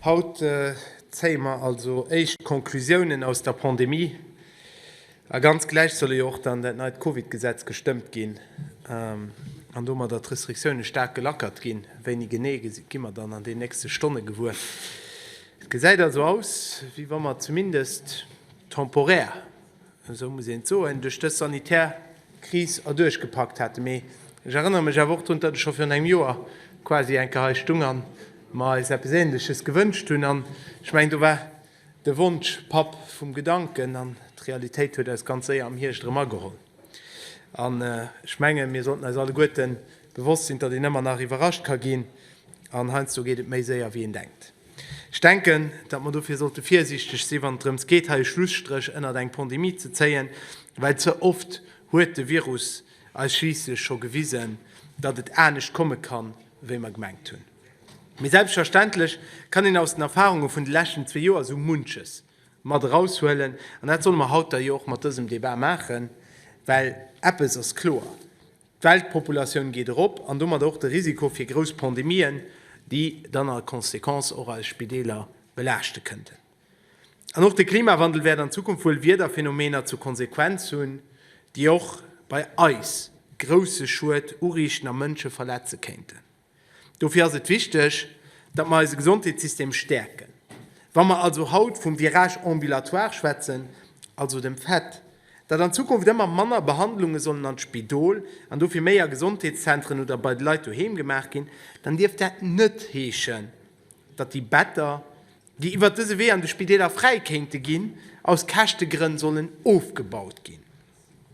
Haut zéie mer also éischt Conclusiounen aus der Pandemie, a ganz gläich solle jo och dann dat neit Covid-Gesetz gestëmmt ginn an domadder d'Restriktioune staark gelackert ginn. Wéini genee, gi mer dann an den nächste Stonne gewuer. Et gesäit also aus, wéi wa mer zumindest temporär, Esou muss een et soen, duerch dës sanitär Kris erduerch gepackt hate. Mee ech erënnere mech awer och drun, datt ech scho virun engem Joer quasi enker hei stung a mer eis eppes Ähnleches gewënscht hunn. An ech mengen, do war de Wonsch Papp vum Gedanken an d'Realitéit huet eis ganz séier am Hierscht erëm ageholl. An ech menge mir sollten eis alleguerte bewosst sinn, datt een ëmmer nach iwwerrascht ka ginn an heiansdo geet et méi séier, wéi een denkt. Ech denken, datt mer dofir sollte virsiichteg si wann et drëms geet hei e Schlusstréch ënnert eng Pandemie ze zéien, well ze oft huet de Virus eis schliisslech scho gewisen, datt et anescht komme kann, wéi mer gemengt hunn. Mee selbstverständlech kann een aus den Erfarunge vun de leschten zwee Joer esou munches mat eraushuelen an dat solle mer haut da jo och mat dësem Debat maachen, well eppes ass kloer, D'Weltpopulatioun geet erop an domat och de Risiko fir grouss Pandemien, déi dann a Conséquence och eis Spideeler belaaschte kënnten. An och de Klimawandel wäert an Zukunft wuel Wiederphenomener zur Konsequenz hunn, déi och bei eis grousse Schued uriichten a Mënsche verletze kéinten. Dofir ass et wichteg, datt mer eise Gesondheetssystem stäerken. Wa mer also haut vum Virage ambulatoire schwätzen, also dem Fait, datt an Zukunft ëmmer manner Behandlunge sollen an d'Spidol an dofir méi a Gesondheetszentren oder bei de Leit doheem gemaach ginn, dann dierft dat net heeschen, datt déi Better, déi iwwert dëse Wee an de Spideeler fräi kéinte ginn, aus Käschtegrënn sollen ofgebaut ginn.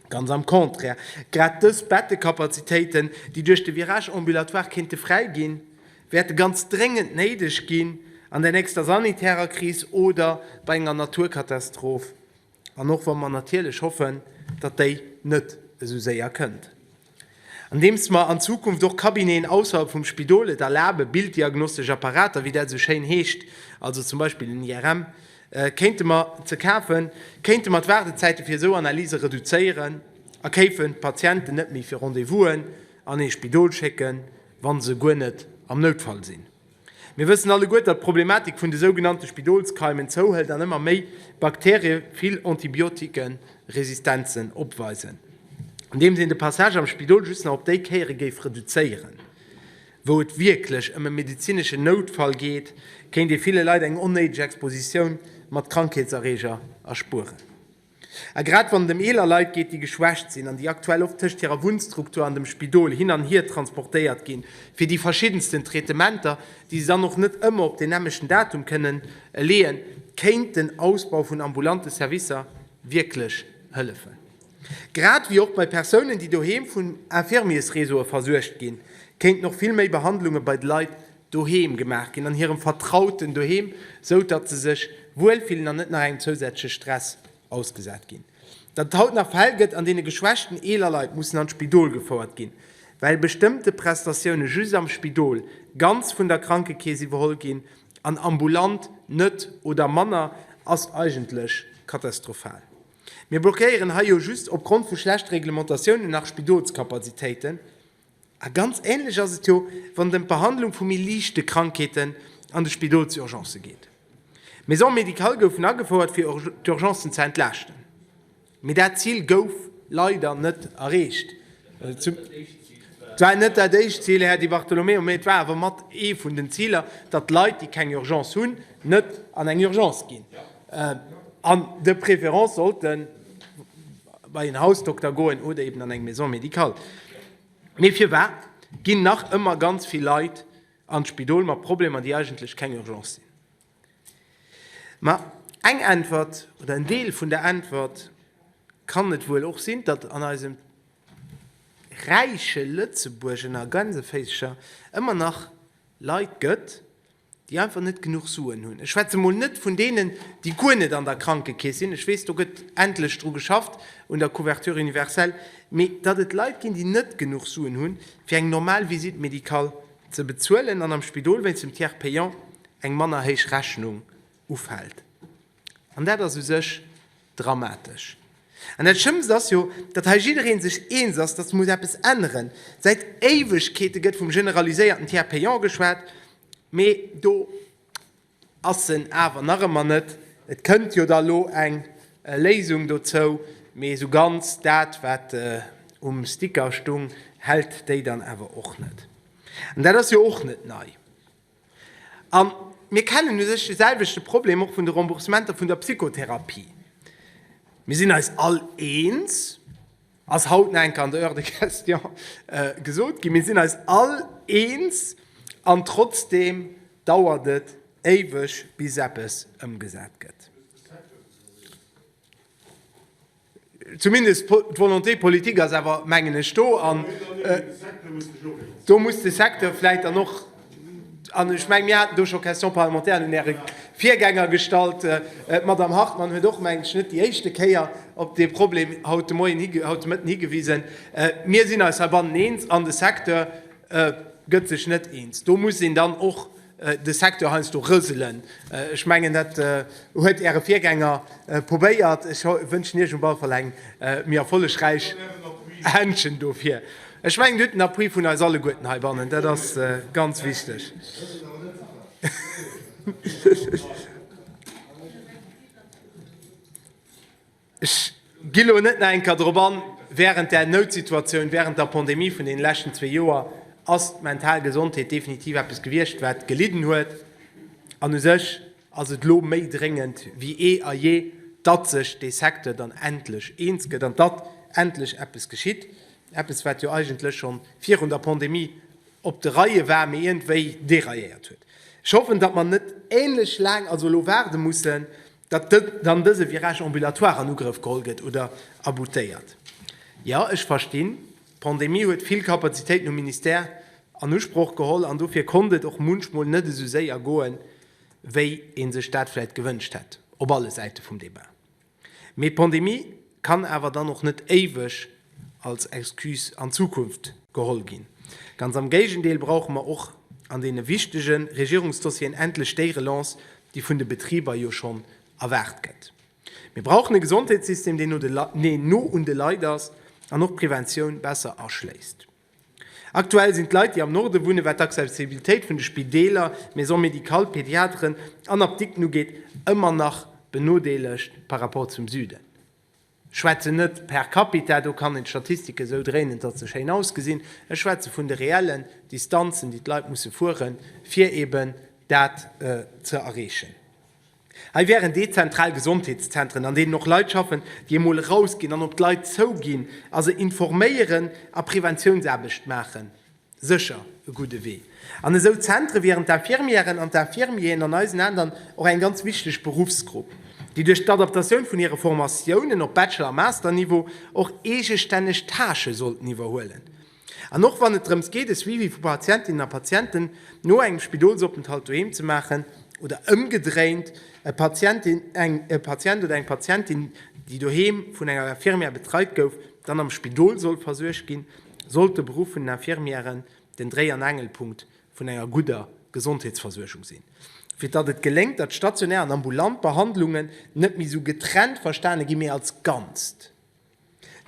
Ganz am Contraire, grad dës Bettekapazitéiten, déi duerch de Virage ambulatoire kéinte fräi ginn, wäerte ganz dréngend néideg ginn an der nächster sanitärer Kris oder bei enger Naturkatastroph, an och wa mer natierlech hoffen, datt déi net esou séier kënnt. Andeems mer an Zukunft och Cabineten ausserhalb vum Spidol et erlaben, bilddiagnostesch Apparater, wéi dat esou schéin heescht, also zum Beispill en IRM, kéinte mer, ze kafen, kéinte mer d'Waardezäite fir esou Analyse reduzéieren a kéifen d'Patienten net méi fir Rendez-vousen an ee Spidol schécken, wa se guer net am Noutfall sinn. Mir wëssen alleguer, datt d'Problematik vun de sougenannte Spidolskeimen zouhëlt an ëmmer méi Bakterie vill Antibiotikeresistenzen opweisen, andeems een de Passage am Spidol just nach op déi Kéiere géif reduzéieren, wou et wierklech ëm e medezineschen Noutfall geet, kéint ee ville Leit eng onnéideg Expositioun mat Krankheetserreeger erspueren. A grad wann et ëm eeler Leit geet, déi geschwächt sinn an déi aktuell oft tëscht hirer Wunnstruktur an dem Spidol hin an hier transportéiert ginn, fir déi verschiddensten Traitementer, déi se dann och net ëmmer op deen nämlechten Datum kënnen leeën, kéint den Ausbau vun ambulante Servicer wierklech hëllefen. Grad ewéi och bei Persounen, déi doheem vun Infirmiersreseaue versuergt ginn, kéinten och vill méi Behandlunge bei de Leit Doheem gemaach ginn, an hirem vertrauten Doheem, sou datt se sech wuel fillen an net nach engem zousätzleche Stress ausgesat ginn. Datt et haut nach Fäll gëtt, an deene geschwächten eeler Leit mussen an d'Spidol gefouert ginn, well bestëmmte Prestatioune just am Spidol ganz vun der Krankekeess iwwerholl ginn an ambulant net oder manner, ass eigentlech katastrophal. Mir blockéieren hei jo just opgrond vu schlechte Reglementatiounen nach Spidolskapazitéiten, A ganz ähnlech ass et jo, wann et ëm d'Behandlung vu méi liichte Krankheeten an de Spidolsurgencë geet. D'Maisons médicales goufen agefouert, fir d'Urgencen ze entlaaschten, mee dat Zil gouf leider net erreecht. Et war net dat éischt Zil, Här Di Bartolomeo, mee et war awer mat ee vun den Ziler, datt Leit, déi keng Urgence hunn, net an eng Urgence ginn an de préférence sollten. bei en Hausdokter goen oder eben an eng Maison médicale. Mee firwat ginn nach ëmmer ganz vill Leit an d'Spidol mat Problemer, déi eigentlech keng Urgence sinn? Ma eng Äntwert oder en Deel vun der Äntwert kann et wuel och sinn, datt an eisem räiche Lëtzebuerg ënner Gänseféischer ëmmer nach Leit gëtt, déi einfach net genuch Suen hunn, ech schwätze mol net vun deenen, déi guer net an der Krankekeess sinn, ech weess do gëtt endlech dru geschafft un der Couverture universelle, mee datt et Leit ginn, déi net genuch Suen hunn, fir eng normal Visite médicale ze bezuelen an am Spidol wéinst dem Tiers payant eng manner héich Rechnung ufält. An dat ass u sech dramatesch. An dat schlëmmst ass jo, datt hei jiddereen sech eens ass, datt muss eppes änneren. Säit Éiwegkeete gëtt vum generaliséierten Tiers payant geschwat, mee do ass en awer nach ëmmer net. Et kënnt jo da lo eng Léisung dozou, mee esou ganz dat wat um Sticker stung, hält déi dann awer och net. An dat ass jo och net nei. A mir kennen u sech de selwechte Problem och vun de Remboursementer vun der Psychotherapie. Mir sinn eis all eens, ass haut nach eng Kéier an der Heure de questions gesot ginn, mir sinn eis all eens, an trotzdeem dauert et éiweg, bis eppes ëmgesat gëtt. Zumindest d'Volonté politique ass awer, mengen ech, do. An do muss de Secteur vläicht dann och, an ech menge mir haten do scho Questions parlementaires un Äre Virgänger gestallt, d'Madame Hartmann huet och, meng ech, net déi éischte Kéier op dee Problem haut de Moien, haut de Mëtten higewisen. Mir sinn eis heibannen eens an de Secteur gëtt sech net eens. Do muss een dann och de Secteur heiansdo rëselen. Ech mengen, dat huet Äre Virgänger probéiert. Ech wënschen Iech op alle Fall eng méi erfollegräich Händchen dofir. Ech mengen, Dir hutt den Appui vun eis alleguerten heibannen, dat ass ganz wichteg. Ech gi elo net nach eng Kéier drop an. Wärend där Noutsituatioun, wärend der Pandemie vun deene leschten zwee Joer ass d'mental Gesondheet definitiv eppes gewiescht, wat gelidden huet. An u sech ass et elo méi dréngend wéi eh a je, datt sech dee Secteur dann endlech eens gëtt an datt endlech eppes geschitt. Eppes, wat jo eigentlech schonn virun der Pandemie op de Reie war, mee iergendwéi derailléiert huet. Ech hoffen, datt mer net änlech laang also elo waarde mussen, Datt dann dëse Virage ambulatoire an Ugrëff geholl gëtt oder aboutéiert. Jo, ech verstinn, d'Pandemie huet vill Kapazitéiten um Ministère an Usproch geholl an dofir konnt et och munchmol net esou séier goen, wéi ee sech dat vläicht gewënscht hätt, op alle Säite vum Debat. Mee d'Pandemie. Kann awer dann och net éiweg als Excuse an d'Zukunft geholl ginn. Ganz am Géigendeel brauche mer och an deene wichtege Regierungsdossieren endlech déi Relance, déi vun de Betriber jo schonn erwaart gëtt. Mir brauchen e Gesondheetssystem, deen no un de Leit ass an och d'Preventioun besser aschléisst. Aktuell sinn d'Leit, déi am Norde wunnen, wat d'Accessibilitéit vun de Spideeler, Maisons médicales, Pediateren an Apdikten ugeet, ëmmer nach benodeelegt par rapport zum Süden. Ech schwätzen net per capita, do kann een d'Statistike sou dréinen, datt se schéin ausgesinn. Ech schwätze vun de reellen Distanzen, déi d'Leit musse fueren, fir eeben dat ze erreechen. Hei wären dezentral Gesondheetszentren, an deenen och Leit schaffen, déi emol erausginn an op d'Leit zouginn a se informéieren a Preventiounsaarbecht maachen, sécher e gudde Wee. An esou Zentre wieren d'Infirmièren an d'Infirmieren an eisen Aenn och eng ganz wichteg Beruffsgrupp, déi duerch d'Adaptatioun vun hire Formatiounen op Bachelor a Masterniveau och eegestänneg Tâchë sollten iwwerhuelen. An och wann et drëms geet, e Suivi vu Patientinnen a Patienten no engem Spidolsopenthalt doheem ze maachen, oder ëmgedréint, e Patient, eng Patient oder eng Patientin, déi doheem vun enger Infirmière betreit gouf, dann am Spidol soll versuergt ginn, sollt de Beruff vun den Infirmièren den Dréi an Angelpunkt vun enger gudder Gesondheetsversuergung sinn. Fir datt et geléngt, datt stationär an ambulant Behandlungen net méi esou getrennt verstane ginn, mee als Ganzt.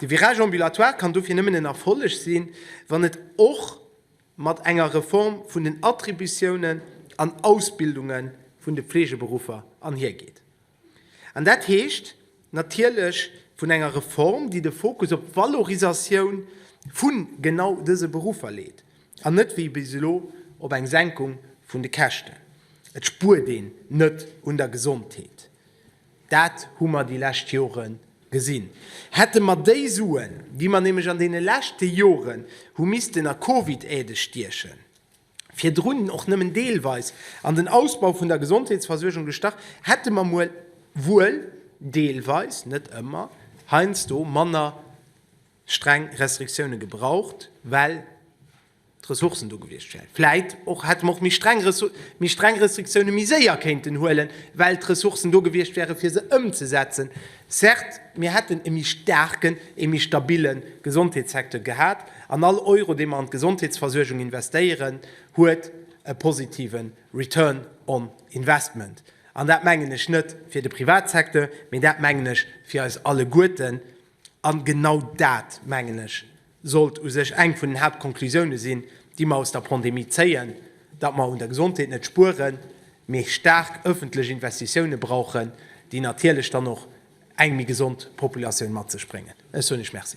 De Virage ambulatoire kann dofir nëmmen en Erfolleg sinn, wann et och mat enger Reform vun den Attributiounen an Ausbildunge vun de Fleegeberuffer anhiergeet. An dat heescht natierlech vun enger Reform, déi de Fokus op d'Valorisatioun vu genau dëse Beruffer leet an net wéi bis elo op eng Senkung vun de Käschten. Et spuert een net un der Gesondheet. Dat hu mer déi lescht Jore gesinn. Hätte mer déi Suen, déi mer nämlech an deene leschte Jore hu missten a Covid-Aide stiechen, virdrun och nëmmen deelweis an den Ausbau vun der Gesondheetsversuergung gestach, hätte mer muel, wuel deelweis, net ëmmer, heiansdo manner streng Restriktioune gebraucht, well. D'Ressourcen do gewiescht wären. Vläit och hätte mer och méi streng méi streng Restriktioune méi séier kéinten huelen, well d'Ressourcen do gewiescht wären, fir se ëmzesetzen. Certes, mir hätten e méi staarken, e méi stabile Gesondheetssecteur gehat, an all Euro, dee mer an d'Gesondheetsversuergung investéieren, huet e positive Return on Investment. An dat mengen ech net fir de Privatsecteur, mee dat mengen ech fir eis alleguerten. An genau dat, mengen ech, sollt u sech eng vun den Haaptkonklusiounen sinn, déi mer aus der Pandemie zéien, datt mer un der Gesondheet net spueren, mee staark öffentlech Investitiounen brauchen, déi natierlech dann och eng méi gesond Populatioun mat sech bréngen. Ech soen lech Merci.